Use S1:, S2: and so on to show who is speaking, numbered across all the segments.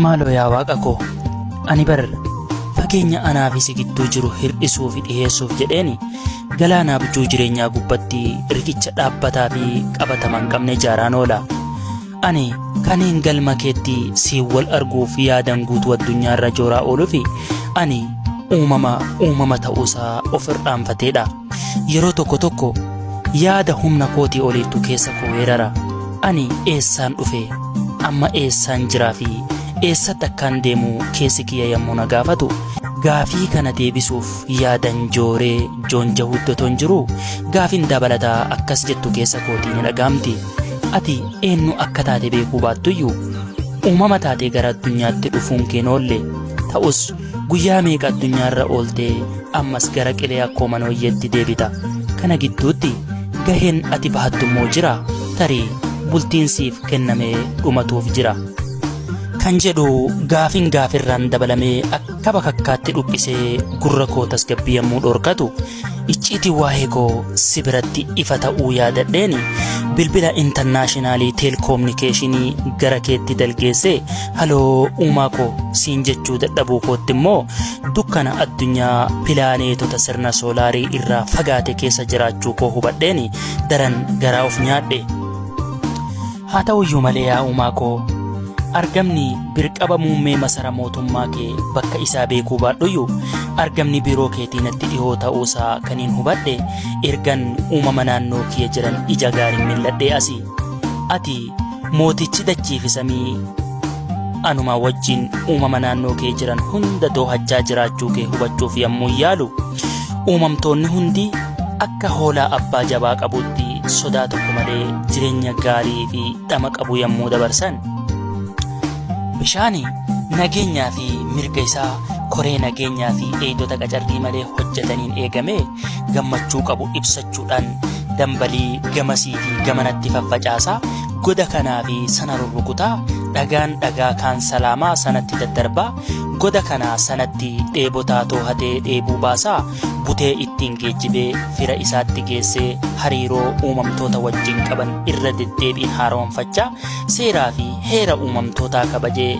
S1: Maaloo yaa Waaqa koo, ani bar fageenya anaa fi si gidduu jiru hir'isuu fi dhiheessuuf jedheen galaana abjuu jireenyaa gubbatti riqicha dhaabbataa fi qabatama hin qabne ijaaraan oola. Ani kanneen galma keetti siin wal arguuf yaadan guutuu addunyaarra jooraa ooluuf ani uumama uumama ta'uusaa of irraanfateedha. Yeroo tokko tokko yaada humna kootii oliittu keessa koo weerara. Ani eessaan dhufe, amma eessaan jiraa fi eessatti akkaan deemu keessi kiyya yommuu na gaafatu, gaafii kana deebisuuf yaadan jooree joonjahuutti otoon jiruu gaafiin dabalataa akkas jettu keessa kootii ni dhagaamti. Ati eenyu akka taate beekuu baattuyyuu uumama taatee gara addunyaatti dhufuun kee hin oolle. Ta'us Guyyaa meeqa addunyaarra ooltee ammas gara qilee akkoo manooyyeetti deebita. Kana gidduutti gaheen ati bahattu immoo jira tarii bultiin siif kennamee dhumatuuf jira. Kan jedhu gaafin gaafirraan dabalamee akka bakakkaatti dhuphisee gurra koo tasgabbii yommuu dhorkatu Icciitii waa'ee koo si biratti ifa ta'uu yaadadheeni bilbila intarnaashinaalii teelkoominikeeshinii gara keetti dalgeessee haloo uumaa koo siin jechuu dadhabuu kootti immoo dukkana addunyaa pilaaneetota sirna soolaarii irraa fagaate keessa jiraachuu koo hubadheeni daran garaa of nyaadhe. Haa ta'u iyyuu malee yaa uumaa koo argamni birqaba muummee masara mootummaa kee bakka isaa beekuu baadhuyyuu argamni biiroo keetii natti dhihoo ta'uu isaa kan hin hubadhe ergan uumama naannoo kiyya jiran ija gaariin milladhee asi ati mootichi dachiifi samii anumaa wajjin uumama naannoo kee jiran hunda doohachaa jiraachuu kee hubachuuf yommuu yaalu Uumamtoonni hundi akka hoolaa abbaa jabaa qabuutti sodaa tokko malee jireenya gaarii fi dhama qabu yommuu dabarsan bishaani nageenyaa fi mirga isaa koree nageenyaa fi eegdota qacarrii malee hojjetaniin eegamee gammachuu qabu ibsachuudhaan dambalii gamasii fi gamanatti faffacaasaa goda kanaa fi sana rurrukutaa dhagaan dhagaa kaan salaamaa sanatti daddarbaa Goda kana sanatti dheebotaa toohatee dheebuu baasaa butee ittiin geejjibee fira isaatti geessee hariiroo uumamtoota wajjin qaban irra deddeebiin haaromfachaa seeraa fi heera uumamtootaa kabajee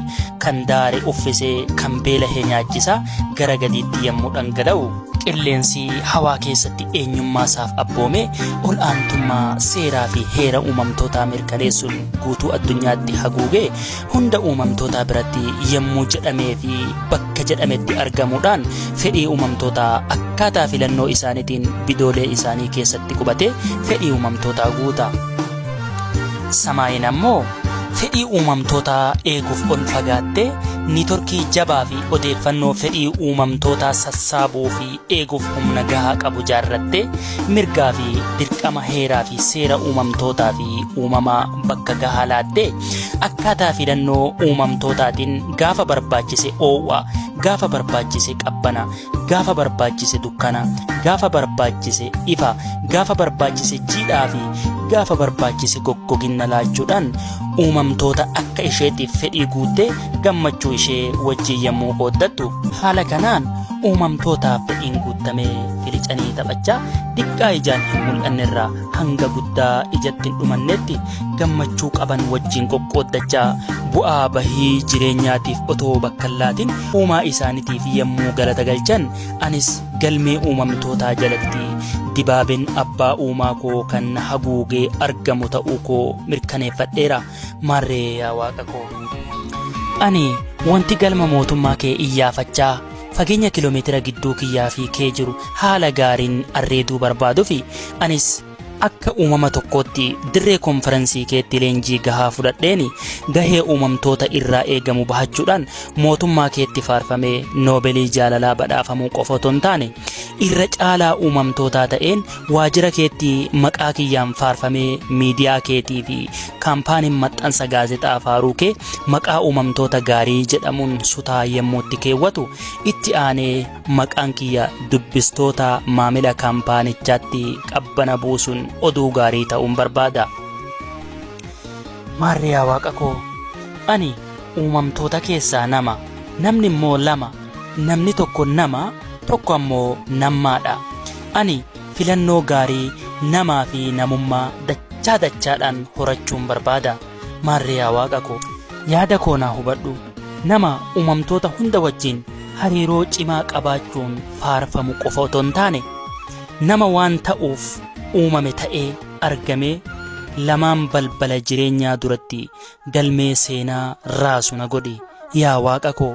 S1: kan daare uffisee kan beelahee nyaachisaa gara gadiitti yommuu dhangala'u qilleensi hawaa keessatti eenyummaa isaaf abboomee ol aantummaa seeraa fi heera uumamtootaa mirkaneessuun guutuu addunyaatti haguugee hunda uumamtootaa biratti yommuu jedhamee fi bakka jedhametti argamuudhaan fedhii uumamtootaa akkaataa filannoo isaaniitiin bidoolee isaanii keessatti qubatee fedhii uumamtootaa guuta. Samaayiin ammoo fedhii uumamtootaa eeguuf ol fagaattee niitorkii jabaa fi odeeffannoo fedhii uumamtootaa sassaabuu fi eeguuf humna gahaa qabu jaarrattee mirgaa fi dirqama heeraa fi seera uumamtootaa fi uumamaa bakka gahaa laattee akkaataa filannoo uumamtootaatiin gaafa barbaachise oo'a gaafa barbaachise qabbana gaafa barbaachise dukkana gaafa barbaachise ifa gaafa barbaachise jiidhaa fi gaafa barbaachise goggoginna laachuudhaan uumamtoota akka isheetiif fedhii guuttee gammachuu ishee wajjin yommuu qooddattu haala kanaan uumamtootaaf fedhiin guuttamee filicanii taphachaa diqqaa ijaan hin mul'annerraa hanga guddaa ijatti hin dhumannetti gammachuu qaban wajjin qoqqooddachaa bu'aa bahii jireenyaatiif otoo bakka hin laatin uumaa isaaniitiif yommuu galata galchan anis Galmee uumamtootaa jalatti dibaabeen abbaa uumaa koo kan na haguugee argamu ta'uu koo mirkaneeffadheera. Maarree yaa Waaqa koo. Ani wanti galma mootummaa kee iyyaafachaa fageenya kiiloomeetira gidduu kiyyaa fi kee jiru haala gaariin arreeduu barbaaduufi anis Akka uumama tokkootti dirree konferansii keetti leenjii gahaa fudhadheeni gahee uumamtoota irraa eegamu bahachuudhaan mootummaa keetti faarfamee noobelii jaalalaa badhaafamuu qofa otoo hin taane irra caalaa uumamtootaa ta'een waajjira keetti maqaa kiyyaan faarfamee miidiyaa keetii fi kaampaaniin maxxansa gaazexaa faaruu kee maqaa uumamtoota gaarii jedhamuun sutaa yemmuu itti keewwatu itti aanee Maqaan kiyya dubbistoota maamila kaampaanichaatti qabbana buusuun oduu gaarii ta'uun barbaada. Maarree yaa Waaqa koo, ani uumamtoota keessaa nama, namni immoo lama, namni tokko nama, tokko ammoo nammaadha. Ani filannoo gaarii namaa fi namummaa dachaa dachaadhaan horachuun barbaada. Maarree yaa Waaqa koo, yaada koo naa hubadhu. Nama uumamtoota hunda wajjin hariiroo cimaa qabaachuun faarfamu qofa otoo hin taane, nama waan ta'uuf uumame ta'ee argamee lamaan balbala jireenyaa duratti galmee seenaa raasu na godhi yaa Waaqa koo.